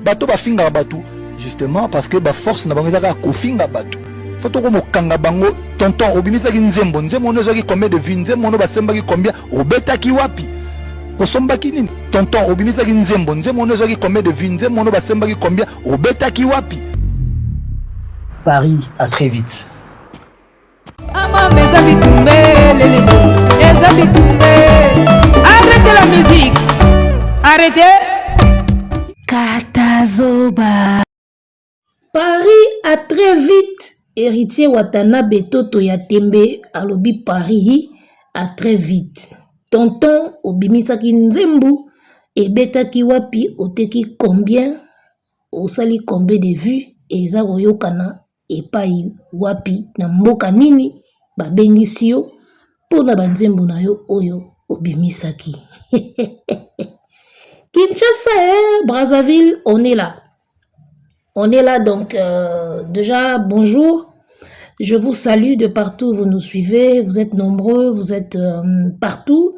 Bato bafingaka bato justement parce que ba force na bango ezaka kofinga bato faut toko mokanga bango tonton obimisaki nzembo nzembo ono ezwaki combien de vie nzembo ono basembaki combien obetaki wapi osombaki nini tonton obimisaki nzembo nzembo ono ezwaki combien de vie nzembo ono basembaki combien obetaki wapi Paris à très vite Katazoba. Paris a très vite héritier Watanabe Toto ya Tembe alobi Paris a très vite. Tonton obimisaki nzembu ebetaki wapi oteki combien osali combien de vues eza koyokana epai wapi, na mboka nini babengisi yo mpo na banzembo na yo oyo obimisaki. Kinshasa, eh, Brazzaville, on est là. On est là, donc euh, déjà, bonjour. Je vous salue de partout où vous nous suivez. Vous êtes nombreux, vous êtes euh, partout.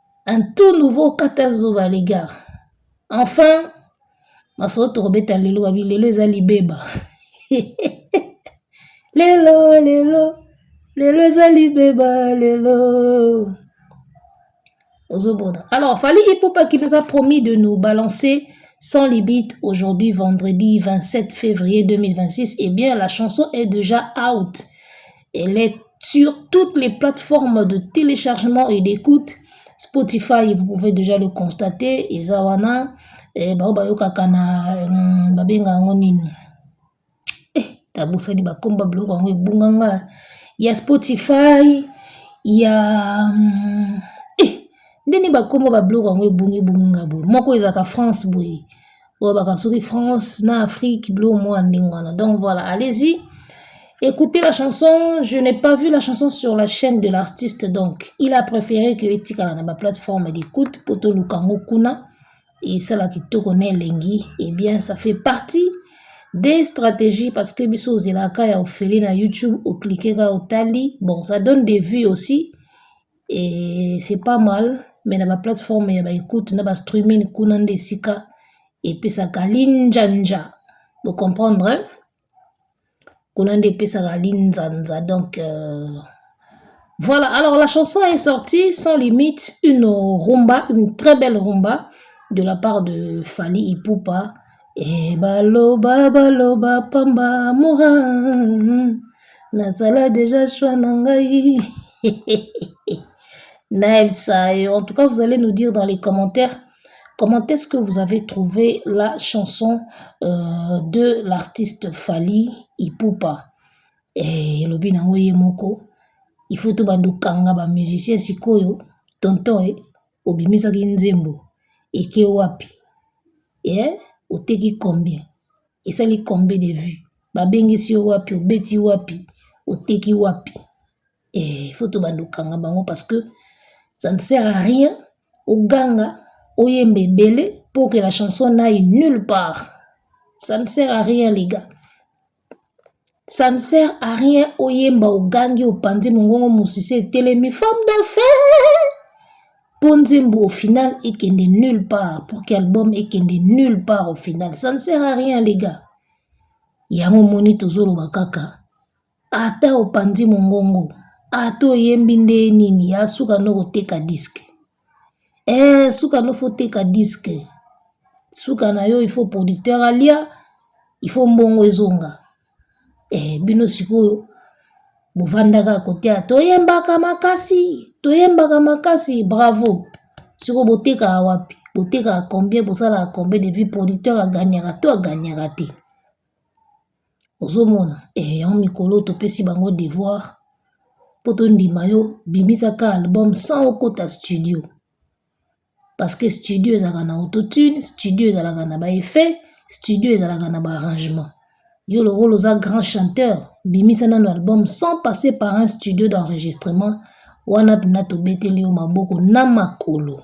Un tout nouveau kata zuba les gars. Enfin masolo tokobeta lelo babi lelo eza libeba. lelo lelo lelo eza libeba lelo. Ozobona. Alors Fally Ipupa qui nous a promis de nous balancer sans limite aujourd'hui vendredi 27 février 2026 eh bien la chanson est déjà out. Elle est sur toutes les plateformes de téléchargement et d'écoute. Spotify, vous pouvez déjà le constater. Izawana, eh, bao bayokaka na mm, babenga yango nini eh, tabosani bakomba biloko yango ebunga nga ya Spotify ya mm, eh, ndeni bakomba babiloko yango ebungi ebungi nga boye moko ezalaka France boye olobaka soki France na Afrique bilo mwa ndenge wana donc voilà allez-y écoutez la chanson je n'ai pas vu la chanson sur la chaîne de l'artiste donc il a préféré que etikala na baplateforme d'écoute mpo toluka yango kuna esala kitoko na elengi eh bien ça fait partie des stratégies parce que biso ozelaka ya ofeli na youtube oklike ka otali bon ça donne des vues aussi Et c'est pas mal, mais na ba plateforme ya ba écoute na ba streaming kuna nde esika epesaka linjanja. Vous comprendre? Hein? Kuna nde epesaka linzanza. Donc euh, voilà, alors la chanson est sortie sans limite, une rumba, une très belle rumba de la part de Fali Ipupa. E baloba baloba pamba mura nazala deja choix na ngai naebisa yo en tout cas vous allez nous dire dans les commentaires comment est-ce que vous avez trouvé la chanson euh, de l'artiste Fally Ipupa e elobi nango ye moko il faut tobanda okanga bamusicien sikoyo tonton e Obimisaki nzembo eke wapi eh oteki combien esali combien de vue babengisi yo wapi obeti wapi oteki wapi eh faut tobanda kokanga bango parce que ça ne sert à rien oganga oyemba ebele pour que la chanson n'aille nulle part ça ne sert à rien les gars Ça ne sert à rien oyemba ogangi opanzi mongongo musisi etelemi femme d'affaires mpo nzembo au final ekende nulle part pour que album ekende nulle part au final ça ne sert à rien les gars yango omoni tozoloba kaka ata opanzi mongongo ata oyembi nde nini ya suka nde okoteka diske Eeh suka no faut teka disque suka na yo il faut producteur alia il faut mbongo ezonga eh bino sikoyo bofandaka kote ya toyembaka makasi toyembaka makasi bravo sikoyo botekaka wapi botekaka combien bosalaka combien de vue producteur aganyaka to aganyaka te. ozo mona eh yango mikolo oyo topesi bango devoir po tondima yo bimisa kaka album sans okota studio parce que studio ezalaka na auto tune, studio ezalaka na ba effet, studio ezalaka na ba arrangement, yo lokola oza grand chanteur bimisa nanu album sans passer par un studio d'enregistrement wana penza tobeteli yo maboko na makolo.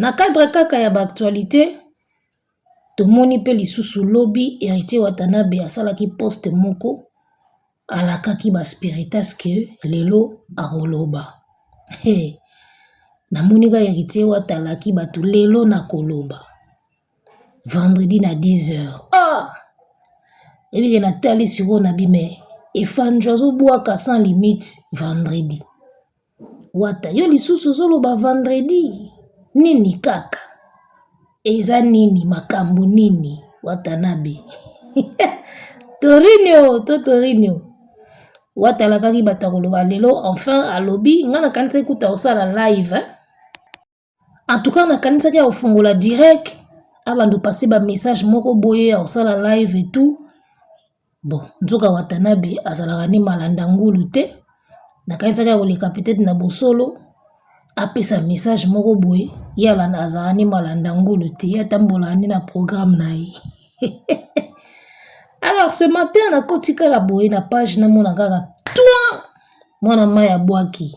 Na cadre kaka ya ba actualite tomoni pe lisusu lobi Heritier Watanabe asalaki poste moko alakaki ba spiritas que lelo akoloba he namoni kaka Heritier Wata alaki batu lelo nakoloba vendredi na dix heures ah! ebike natali sikoyo nabi mais efandjo azo bwaka sans limite vendredi. Wata yo lisusu ozoloba vendredi nini kaka eza nini makambo nini watanabe torinio to torinio wata alakaki bato ya koloba lelo enfin alobi ngai nakanisaki kuta osala live eh? En tout cas nakanisaki ya kofungola direct abanda opase bamessage moko boye ya kosala live et tout bon nzoka watanabe azalaka nde malanda ngulu te nakanisaki ya koleka peut-être na bosolo apesa message moko boye ye alanda azalaka nde malanda ngulu te ye atambolaka nde na programme na ye alors ce matin nakoti kaka boye na page namona kaka toi mwana mai abwaki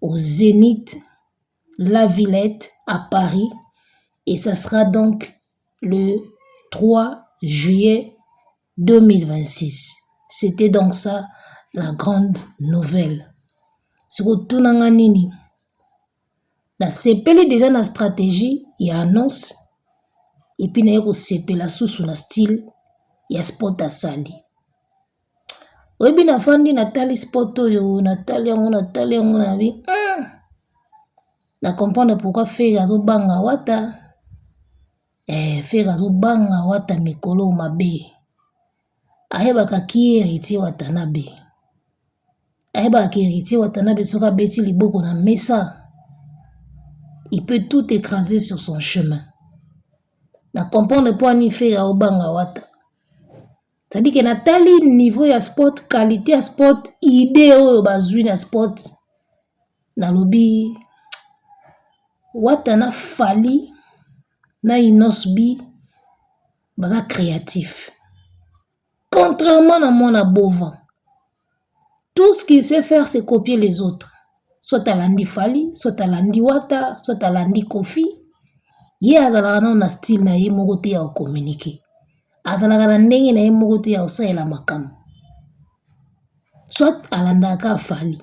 au Zenith La Villette à Paris et ça sera donc le 3 juillet 2026. C'était donc ça la grande nouvelle. sikotuna nga nini nasepeli deja na stratégie ya annonce epuis naye kosepela susu na style ya sport asali oyebi na fandi na tali spot oyo na tali yango na tali yango na bi hmm! na comprendre pourkoi fere azobanga wata ee eh, fere azobanga wata mikolo mabe ayebaka ki heritier watanabe ayebaka ki heritier watanabe soki abeti liboko na mesa il peut tout écraser sur son chemin na comprendre mpo ani fere aobanga wata Tandis que natali niveau ya sport, qualite ya sport, idee oyo bazwi na sport nalobi wata na fally na innos'b baza creatif contrairement na mwana bova. tout ce qu'il sait faire c'est copier les autres soit alandi fali soit alandi wata soit alandi kofi ye azalaka nano na style na ye moko te ya kocommunike azalaka na ndenge na ye moko te ya kosalela makambo soit alandaka fali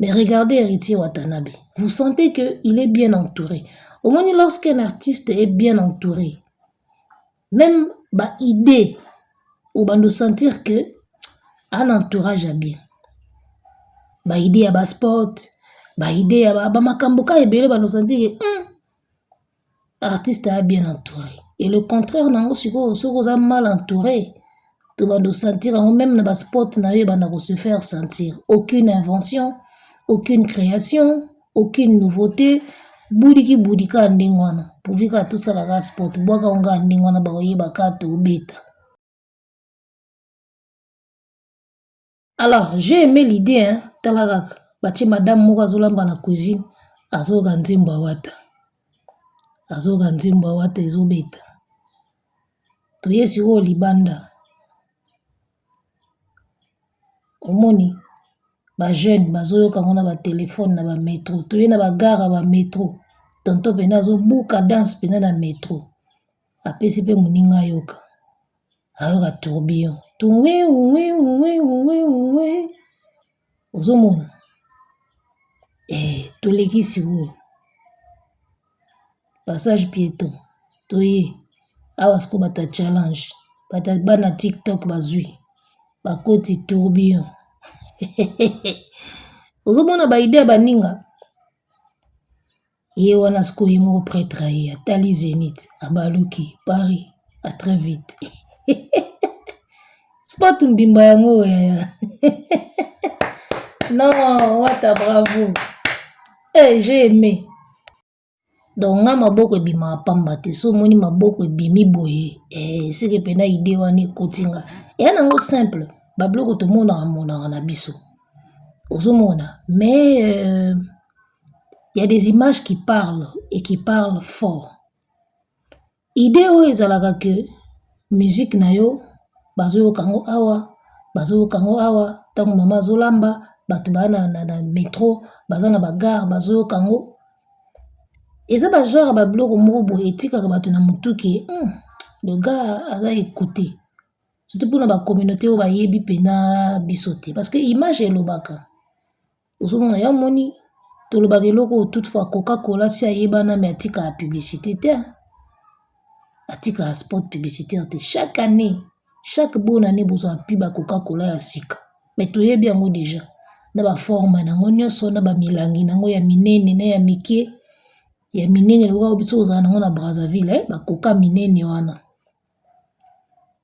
mais regardez héritier watanabe vous sentez que il est bien entouré omoni lorsqu'un artiste est bien entouré Meme ba idee obando sentir que ana entourage ya bien ba idee ya ba sport ba idee ya ba makambo ka ebele bando sentir que hum, artiste a bien entoure et le contraire na yango sikoyo soki oza mal entoure tobanda kosentir yango meme na baspot na yo ebanda ko se faire sentir aucune invention aucune création aucune nouveauté budiki budika ya ndenge wana pourvu kaka tosalaka spot bwaka ngo kaka ndenge wana bakoyebaka tobeta Alors j'ai aimé l'idée hein, tala kaka batie madame moko azolamba na cuisine azoyoka nzembo ya wata azoyoka nzembo ya wata ezobeta toye sikoyo libanda omoni ba jeune bazoyoka yango na batelefone na bametro toye na bagare ya bametro tonto mpena azobuka danse mpena na metro Apesi pe moninga ayoka. Ayoka tourbillon tuwiwuwiwuwiwuwiwuwi ozo mona eh toleki sikoyo passage pieton toye awa sikoyo bato ya challenge bato ya bana tiktok bazwi ba koti tourbillon ozo mona ba idee ya ba ninga. Ye wana sikoyo ye moko pretre aye atali zenith abaluki paris a très vite sport mbimba yango yaya non wata bravo eh j'ai aimé donc nga maboko ebimaka pamba te so omoni maboko ebimi boye eh, seke mpena ide wana ekoti nga eya nango simple babiloko tomonaka monaka na biso ozomona mais euh, ya des images qui parle et qui parle fort idee oyo ezalaka ke musik na yo bazoyoka yango awa bazoyoka yango awa ntango mama azolamba bato baa na metro baza na bagare bazoyoka yango eza bajare ya babiloko moko boye etikaka bato na motuke loga aza ekute sutu mpona bakominate oyo bayebi mpena biso te paske image elobaka Ozomona ya omoni tolobaka eloko oyo toute fois coca cola asi ayebana me atikaka publicite te atikaka spot publicitaire te chaque annee chaque bone annee bozwa pi ba coca cola ya sika me toyebi yango deja na ba forme na yango nyonso na bamilangi na yango ya minene na ya mike ya minene lokola biso kozala na yango na brazzaville ba coca minene wana.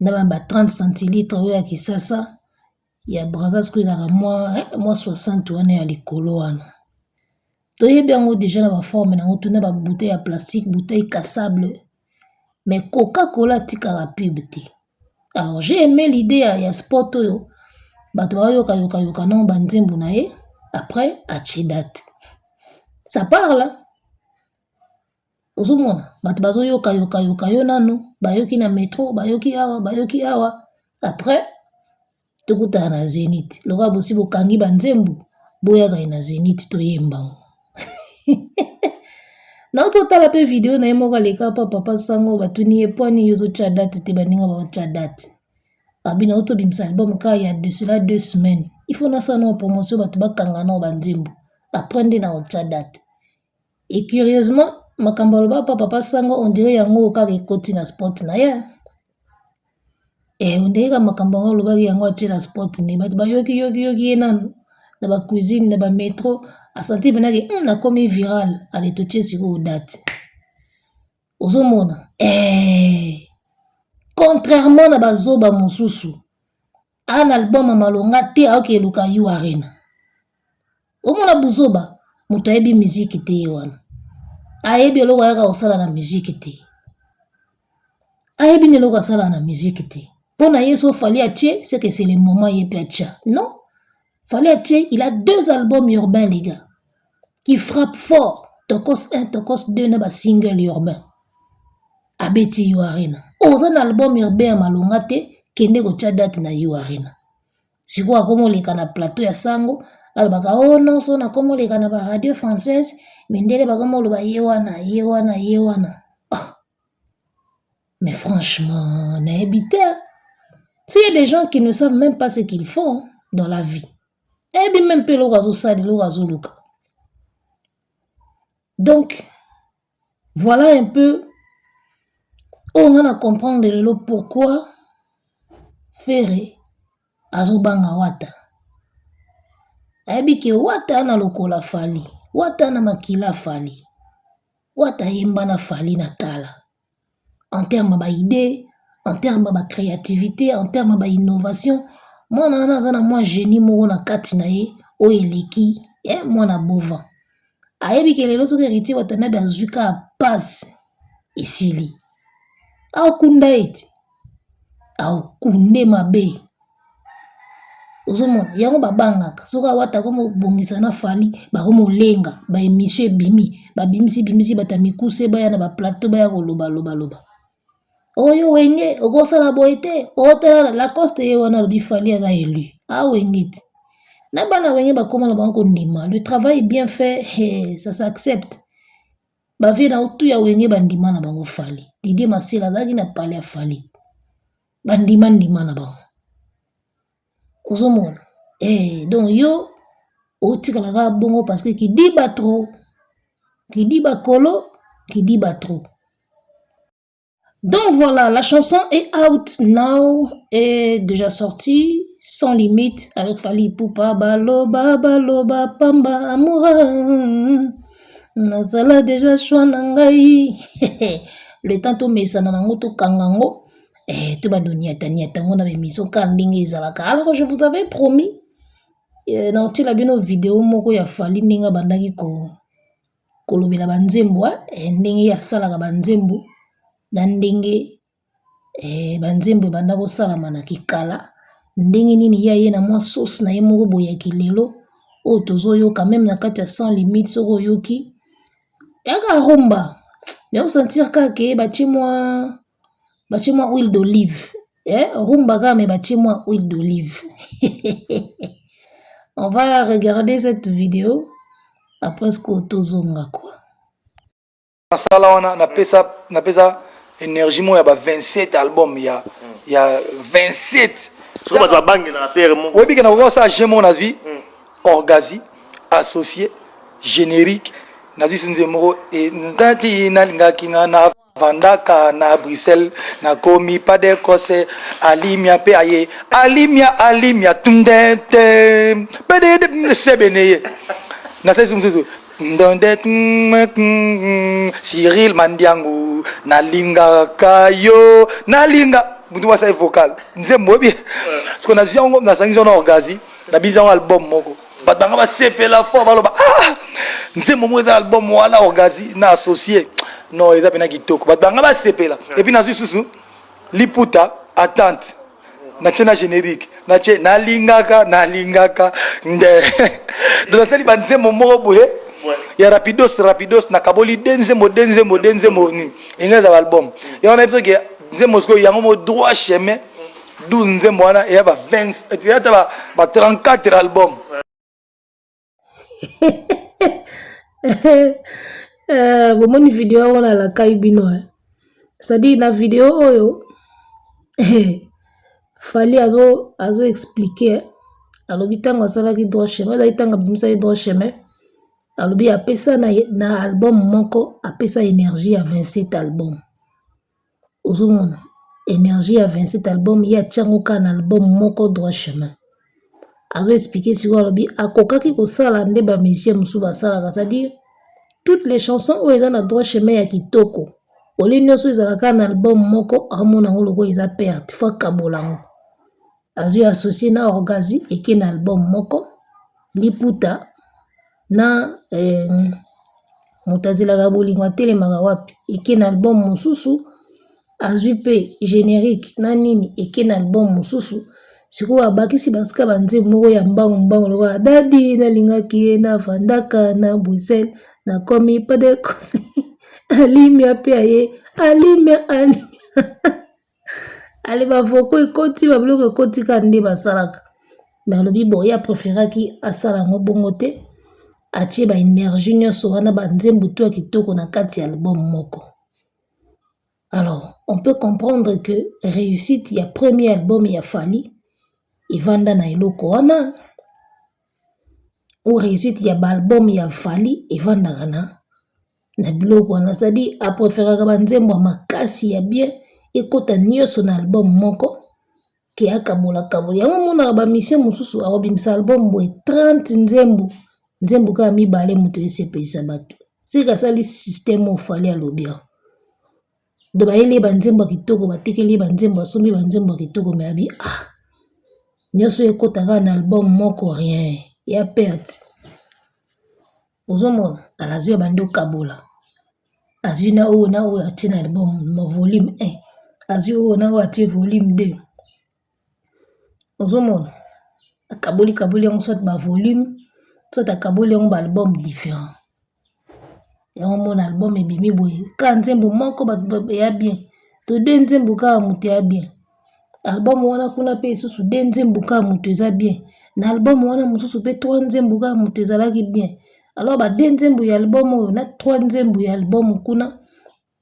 na ba 30 centilitres oyo ya kisasa ya brazza oyo ezalaka mua 60 wana ya likolo wana toyebi yango dejà na ba formes nango tuna ba bouteilles ya plastique, bouteille cassable mais coca cola atikaka pub te alors j'ai aime l'idee ya spot oyo bato bayoka yoka yoka na ba nzembo na ye après atie date ça parle. Ozomona bato bazoyoka yoka yoka yo nanu bayoki na metro bayoki awa bayoki awa après tokutana na zenith lokola bosi bokangi ba nzembo boyaka ye na zenith toyembango nauti otala mpe video na ye moko aleka mpo papa sango batuni ye mpo ani ozotya date te baninga baotya date abi nauti obimisa album ka ya de cela deux semaines il faut nasala nao promotion bato bakanga nao banzembo après nde na otya date Et curieusement, makambo aloba pa papa sango on dirait yango oyo kaka ekoti na spot na ye hein. Eh on dirait kaka makambo yango alobaki yango atie na spot ne bato ba yoki yoki yoki ye nanu na ba cuisine na ba metro a sentir penza ke hum nakomi viral allez totie sikoyo date. ozomona eh. contrairement na bazoba mosusu ana album ya malonga te aoki eluka yu arena omona buzoba moto ayebi miziki te ye wana ayebi eloko ayaka kosala na miziki te ayebi na eloko asala na miziki te mpo na ye so fali atie seke se le moment ye mpe atya non fali atie il a deux albums urbain lega qui frappe fort tokos 1 tokos 2 na ba single ya urbain abeti yo arena oza na album ya urbain ya malonga te kende kotya date na yo arena sikoyo akomoleka na plateau ya sango alobaka o oh, nonso nakomoleka na ba radio française mindele bakomoloba ye wana ye wana ye wana oh. mais franchement nayebi te s'il y a des gens qui ne savent même pas ce qu'ils font dans la vie ayebi meme mpe eloko azosala eloko azoluka donc voilà un peu oyo nga na comprendre lelo pourquoi fere azobanga wata ayebi ke wata na lokola fali wata na makila fali wata ayemba na fali na kala en terme ya ba idee, en terme ya ba creativite, en terme ya ba innovation, mwana wana aza na mwa genie moko na kati na ye oyo eleki ya mwana bova. Ayebi ke lelo soki Heritier Watanabe azwi kaka pasi, esili. Akunda ye te. akunde mabe ozomona yango babangaka soki awata akomobongisa na fali bakomolenga ba emission ebimi babimisi bimisi bata mikuse baya na ba plateau baya koloba loba loba oyo wenge okosala boye te otala lacoste ye wana alobi fali aza elu awenge te na bana wenge bakoma na bango kondima le travail bien fait he ça s'accepte Ba vieux na yo tout ya wenge ba ndima na bango Fally. Didier Masela azalaki na palais ya Fally. Ba ndima ndima na bango. Ozo mona? Eh donc yo otikala kaka bongo parce que kidiba trop. Kidiba kolo, kidiba trop. Donc voilà, la chanson est out now, est déjà sortie, sans limite, avec Fali Poupa, Baloba, Baloba, Pamba, Amoura. Nazala déjà choix nangai. Le temps to mesana nango to kangango. Eh, to bando niata niata ngona be miso ka ndenge ezalaka. Alors je vous avais promis eh, na otila bino vidéo moko ya Fali ndenge bandaki ko kolobela ba nzembo eh, ndenge ye asalaka ba nzembo na ndenge eh, ba nzembo ebanda kosalama na kikala ndenge nini ye aye na mwa sauce na ye moko boye ya kilelo oyo tozoyoka meme na kati ya sans limite soki oyoki yaka rumba me osentir kaka batie mwa batie mwa huile d'olive eh, rumba kaka me batie mwa huile d'olive on va regarder cette video après ce que tozonga quoi nasala wana napesa napesa energie moko ya ba 27 album ya mm. ya 27 soki bato babangelaka pere moko oyebi ke nakoka kosala je moko nazwi mm. orgazi associé générique nazwi so nzembo moko e, ntanti nalingaki nga na Navandaka na Bruxelles, nakomi padecos, alimia pe aye, alimia, alimia, tndente, pedede, sebeneye, nasalisi mosusu ndonde Cyril Mandiangu nalingaka yo nalinga mutu mwasi aye vocal nzembo oyebi siko nazwi yango nazangisi yango na orgasi nabinisi yango album moko bato banga basepela fort baloba ah nzembo moko eza album wana orgasi na associe non eza mpena kitoko bato banga basepela epuis nazwi susu liputa attente natie na générique natie nalingaka nalingaka nde nasali banzembo moko boye ya rapidos rapidos nakaboli de nzembo de nzembo de nzembo nini enga eza baalbum yango nayebi soki nzembo sikoyo yango mo droit chemin 12 nzembo wana eya ba 20 eya ata ba 34 album eh, bomoni video yango nalakai bino eh. cestadire na video oyo eh, fali azo azo explike alobi ntango asalaki droit chemin ezali ntango abimisaki droit chemin alobi apesa na, na album moko apesa energie ya 27 album Ozo mona energie ya 27 album ye atia ngo kaka na album moko droit chemin. Azo expliquer sikoyo alobi akokaki kosala nde ba musiciens mosusu ba salaka c'est à dire toutes les chansons oyo eza na droit chemin ya kitoko au lieu nioso ezala kaka na album moko azo mona ngo lokola eza perte il faut akabola ngo. azwi associe na orgazi eke na album moko liputa na eh, moto azelaka bolingo atelemaka wapi eke na album mosusu azwi mpe générique na nini eke na album mosusu sikoyo abakisi basika banzembo moko ya mbangu mbangu lokola dadi nalingaki ye na vandaka na bruxelles nakomi pas de conseil alimia mpe aye alimia alimia ale bavoko ekoti babiloko ekoti ka nde basalaka me alobi boye apreferaki asala yango bongo te atie baenergie nyonso wana banzembo to ya kitoko na kati ya album moko alors on peut comprendre que réussite ya premier album ya fali evanda na eloko wana ou reussite ya ba album ya Fally efandaka na biloko wana c'est à dire a preferaka ba nzembo ya makasi ya bien ekota nionso na album moko ke akabola kabola yango omonaka ba musiciens mosusu akobimisa album boye 30 nzembo, nzembo kaka mibale mutu esepelisa batu soki asali système oyo Fally alobi awa. Donc bayeli ye ba nzembo ya kitoko batekeli ye ba nzembo asombi ba nzembo ya kitoko mais abi ah nioso oyo ekota kaka na album moko rien eza perte ozomona kala azui ya banda okabola azui na oyo na oyo atie na album volume un azui oyo na oyo atie volume deux. ozo mona akaboli kaboli yango soit ba volume soit akaboli yango ba album different yango omona album ebimi boye kaka nzembo moko bato ya bien to de nzembo kaka moto ya bien album wana kuna mpe lisusu de nzembo kaka moto eza bien na album wana mosusu mpe trois nzembo kaka moto ezalaki bien alors ba de nzembo ya album oyo na trois nzembo ya album kuna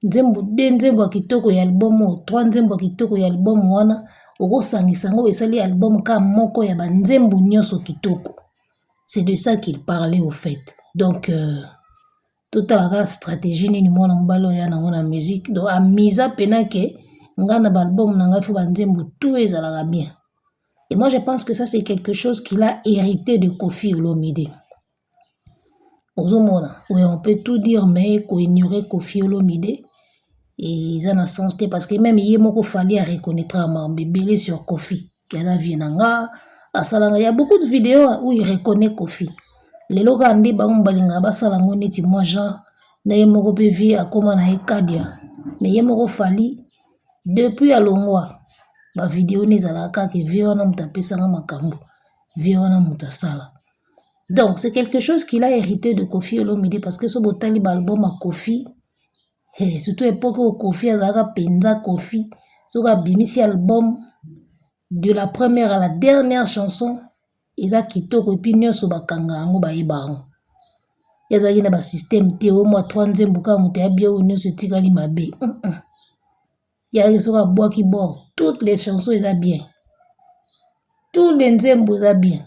nzembo de nzembo ya kitoko ya album oyo trois nzembo ya kitoko ya album wana okosangisa yango esali album ka moko ya banzembo nyonso kitoko c'est de ça qu'il parlait au fait donc euh, totalaka stratégie nini mwana mobali oyo ya nango na musique donc amisa mpena ke ngai na baalbum na ngai fo banzembo tout ezalaka bien Et moi, je pense que ça, c'est quelque chose qu'il a hérité de Kofi Olomide. Ozomona, oui, on peut tout dire, mais qu'on ignorait Kofi Olomide, et ça n'a sens parce que même hier, moko fallait reconnaître à Mambébélé sur Kofi. Kiana Vienanga, Asalanga, il y a beaucoup de vidéos où il reconnaît Kofi. Les locaux ont dit, bah, on balinga, bah, salango, neti, moi, genre, na ye moko pe vie akoma na ye kadia mais ye moko fali depuis alongwa ba video ne ezalaka kaka vie wana moto apesanga makambo vie wana moto asala donc c'est quelque chose qu'il a hérité de Koffi Olomide parce que so botali ba album ya Koffi hey, surtout epoque oyo Koffi azalaka mpenza Koffi soki abimisi album de la première à la dernière chanson eza kitoko epuis nionso bakanga yango bayeba yango ye azalaki na basystème te oyo mwa 3 nzembo kaka moto ayabi oyo nyonso etikali mabe ye ayaki soki abwaki bord toutes les chansons eza bien tous les nzembo eza bien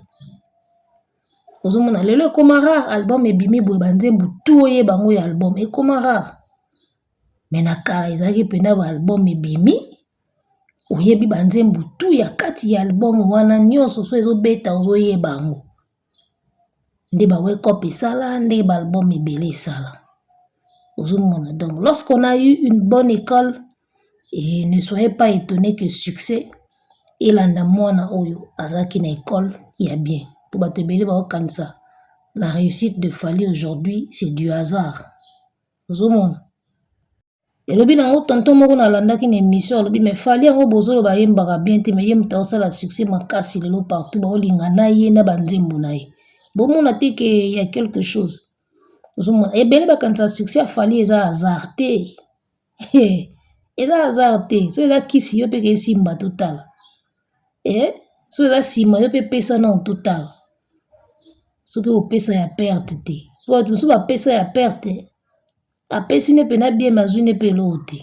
ozomona lelo ekoma rare album ebimi boye banzembo tu oyeba yango ya album ekoma rare me na kala ezalaki mpena baalbum ebimi oyebi ba nzembo tout ya kati ya album wana nionso soki ezo beta ozo yeba yango nde ba wake up esala nde ba album ebele esala ozo mona donc lorsque on a eu une bonne ecole et ne soyez pas etonne que succès elanda mwana oyo azalaki na ecole ya bien po batu ebele bao kanisa la reussite de Fally aujourd'hui c'est du hasard ozo mona. elobi nango tonton moko nalandaki na émission alobi mais fali yango bozoloba ayembaka bien te mais ye moto aosala succès makasi lelo partout baolinga na ye na banzembo na ye bomona te ke ya quelque chose ozomona ebele bakanisa succès ya fali eza hasard te eza hasard te so eza kisi yo mpe kesimba totala e eh? so eza nsima yo mpe pesa nao totala soki opesa ya perte te po bato mosusu bapesa ya perte apesi ne pena bien mais azui ne pe eloko te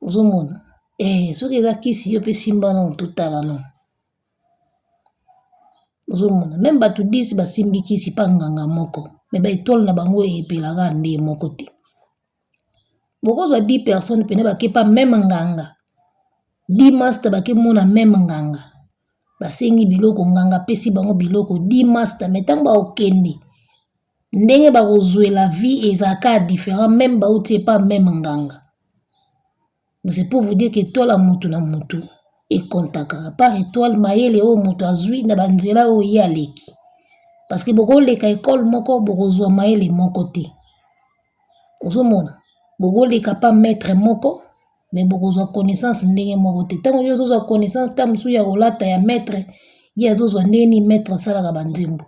ozo mona eh soki eza kisi yo pe simba nanu to tala nanu ozo mona meme batu 10 ba simbi kisi epa nganga moko mais ba etoiles na bango epela kaka ndenge moko te, boko zua 10 personnes pena bake epa meme nganga 10 masta bake mona meme nganga ba sengi biloko nganga apesi bango biloko 10 masta mais tangu bako kende. ndenge bakozwela vie ezalaka different meme bauti epa meme nganga c'est pour vous dire que etoile ya mutu na mutu ekontaka apart etoile mayele oyo mutu azwi na banzela oyo ye aleki parce que bokoleka ekole moko bokozwa mayele moko te ozomona bokoleka pa maitre moko mais bokozwa connaissance ndenge moko te ntango yo ozozwa connaissance ntango mosusu ya kolata ya maître ye azozwa ndenge nini maître asalaka banzembo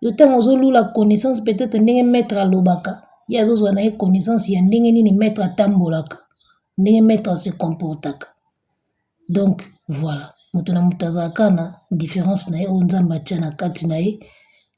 yo ntango ozolula connaissance peut-être ndenge maître alobaka ye azozwa na ye connaissance ya ndenge nini maître atambolaka ndenge maître ase comportaka donc voilà moto na moto azalaka na différence na ye oyo nzambe atya na kati na ye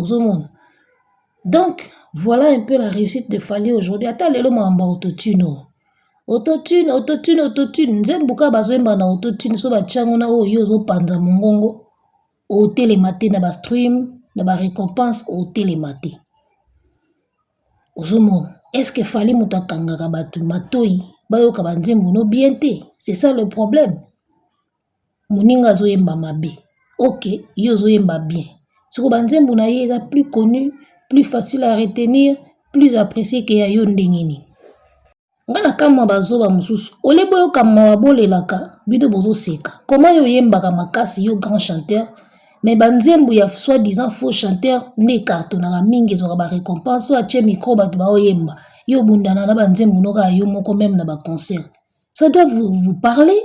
ozomona donc voilà un peu la réussite de fally aujourd'hui ata lelo makambo ya autotune oyo autotune autotune autotune nzembo kaka bazoyemba na autotune so batya yango na oyo yo ozopanza mongongo otelema te na ba stream na ba recompense otelema te ozomona est ce que fally moto akangaka bato matoi bayoka banzembo no bien te c'est ça le problème Moninga azo yemba mabe ok yo ozo yemba bien sikoyo ba nzembo na ye eza plus connu plus facile à retenir plus apprecie que ya yo ndenge nini? Nga na kamua ba zoba mususu au lieu bo yoka mawa bo lelaka bino bozo seka comment yo oyembaka makasi yo grand chanteur mais ba nzembo ya soit disant faux chanteur nde e cartonaka mingi ezwaka ba recompense oyo atie micro batu bao yemba yo obundana na ba nzembo no kaka yo moko meme na ba concert ça doit vous parler?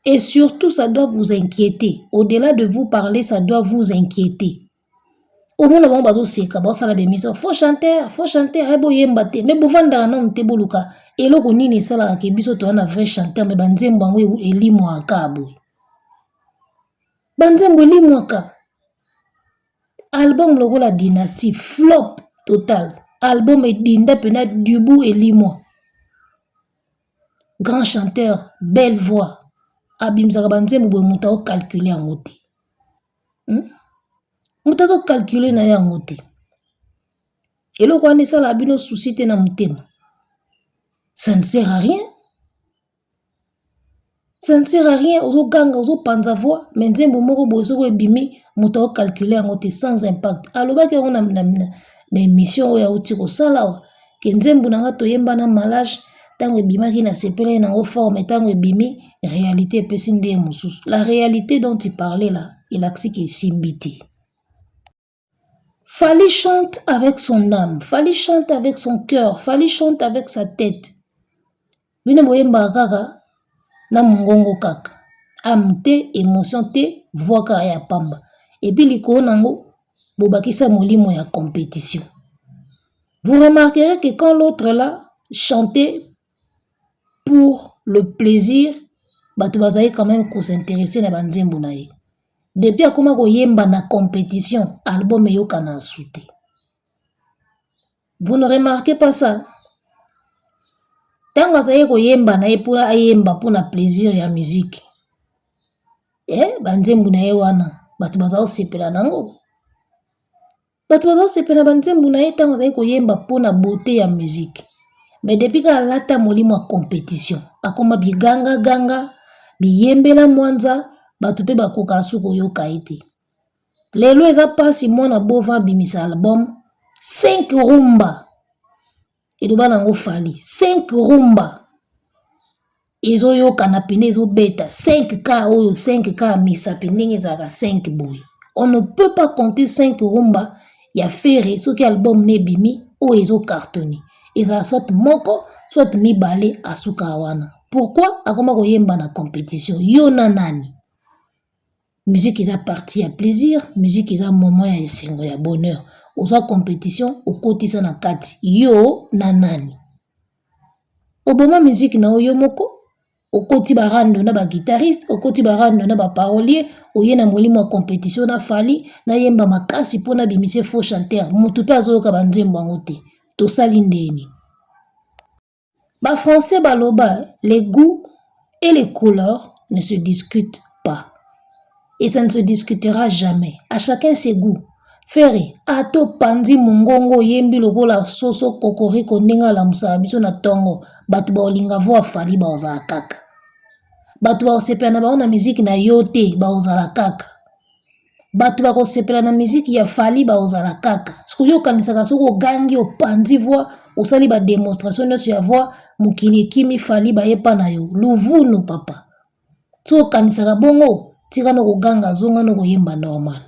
Et surtout ça doit vous inquiéter. Au-delà de vous parler, ça doit vous inquiéter. omona bango bazoseka baosala bemission faux chanteur faux chanteur ye eh, boyemba te me bovandaka nanu te boluka eloko nini esalaka ke biso toza na vrai chanteur me banzembo yango e-, elimwaka boye banzembo elimwaka album lokola dynastie flop total album edinda mpena dubu elimwa Grand chanteur belle voix abimisaka ba nzembo boye mutu azo calculer yango te hum mutu azo calculer naye yango te eloko wana esalaka bino soucis te na motema ça ne sert à rien. Ça ne sert à rien, ozo ganga, ozo panza voix, mais nzembo moko boye soko ebimi, moto ako calculer yango te sans impact. Alobaki yango na, na, na, na emission oyo auti kosala awa, ke nzembo na nga toyemba na malage, ntango ebimaki na sepelaki nango fort, mais ntango ebimi, realite epesi nde ye mosusu. La realite dont il parlait là, elakisi ke esimbi te. Fally chante avec son âme, Fally chante avec son cœur, Fally chante avec sa tête. Bino boyembaka kaka na mongongo kaka. Âme te, emotion te, voix kaka ya pamba. Et puis likolo nango bobakisa molimo ya compétition. Vous remarquerez que quand l'autre là chantait pour le plaisir, bato bazali quand même ko s'intéresser na ba nzembo na ye. Depuis akoma koyemba na competition, album eyokana asu te. Vous ne remarquez pas ça? Tango azali koyemba na ye mpona ayemba mpona plaisir ya musique eh, banzembo na ye wana bato baza kosepela nango bato bazosepela ba nzembo na ye ntango azali koyemba mpo na beaute ya musique mais depuis kaka alata molimo ya competition akoma biganga ganga biyembela mwanza bato mpe bakoka su koyoka ye te lelo eza mpasi mwana bova abimisa album 5 rumba eloba na yango fali 5 rumba ezoyokana pene ezobeta 5 ka oyo 5 ka misapi ndenge ezalaka 5 boye on ne peut pas compter 5 rumba ya fere soki album na ebimi oyo ezo cartone ezala soit moko soit mibale asuka wana pourkui akoma koyemba na competition yo na nani Musique eza partie ya plaisir, musique eza moment ya esengo ya bonheur. Ozwa competition okotisa na kati yo na nani? Oboma musique na yo yo moko okoti ba rando na ba guitariste, okoti ba rando na ba parolier, oye na molimo ya competition na Fally nayemba makasi mpo nabimisa ye faux chanteur, moto mpe azoyoka ba nzembo yango te tosali ndeni? Ba français baloba les gout et les couleurs ne se discute pas et ça ne se discutera jamais à chacun ses gout ferre ata opanzi mongongo oyembi lokola soso kokoriko ndenge alamusaka biso na ntongo bato baolinga vo afali baozala kaka bato baosepela na bango na miziki na yo te baozala kaka bato bakosepela na miziki ya fali bakozala kaka soki okanisaka soki ogangi opanzi voi osali bademonstration nyonso ya voi mokili ekimi fali bayepa na yo luvunu papa soki okanisaka bongo tikana koganga zongana koyemba normal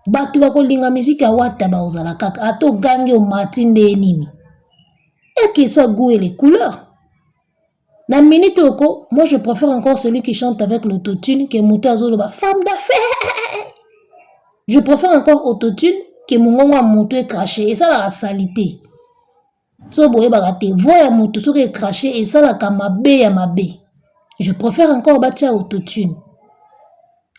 bato bakolinga miziki ya wata bakozala kaka ata ogangi omati ndeye nini ekisa goe le couleur Na minute oko, moi je préfère encore celui qui chante avec l'autotune que moto azoloba femme d'affaires. Je préfère encore autotune que mongongo ya moto ecrache esalaka salite. So boyebaka te voix ya moto soki ecrache esalaka mabe ya mabe. Je préfère encore batia autotune.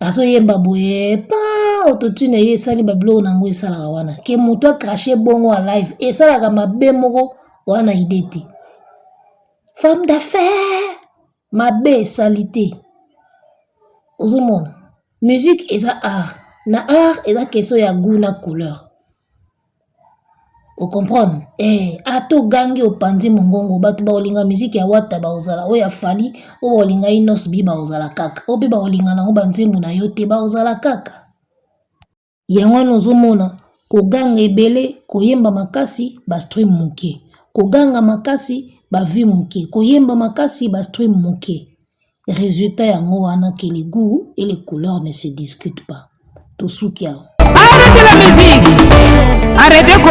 Azoyemba boye pa autotune eye esali babiloko na yango esalaka wana ke moto acrache bongo ya live esalaka mabe moko wana idee te. femme d'affaire mabe salite ozomona musique eza art na art eza question ya gout na couleur ocomprendre eh, ata ogangi opanzi mongongo bato baolinga miziki ya wata baozala oyo ya fali oyo baolinga inosbi baozala kaka oyo mpe baolinga nango banzembo na yo te baozala kaka Yango wana ozomona koganga ebele koyemba makasi ba stream moke koganga makasi ba vue moke koyemba makasi ba stream moke resultat yango wana que le goût et les couleurs ne se discutent pas tosuki awa arrete la musique arrete ko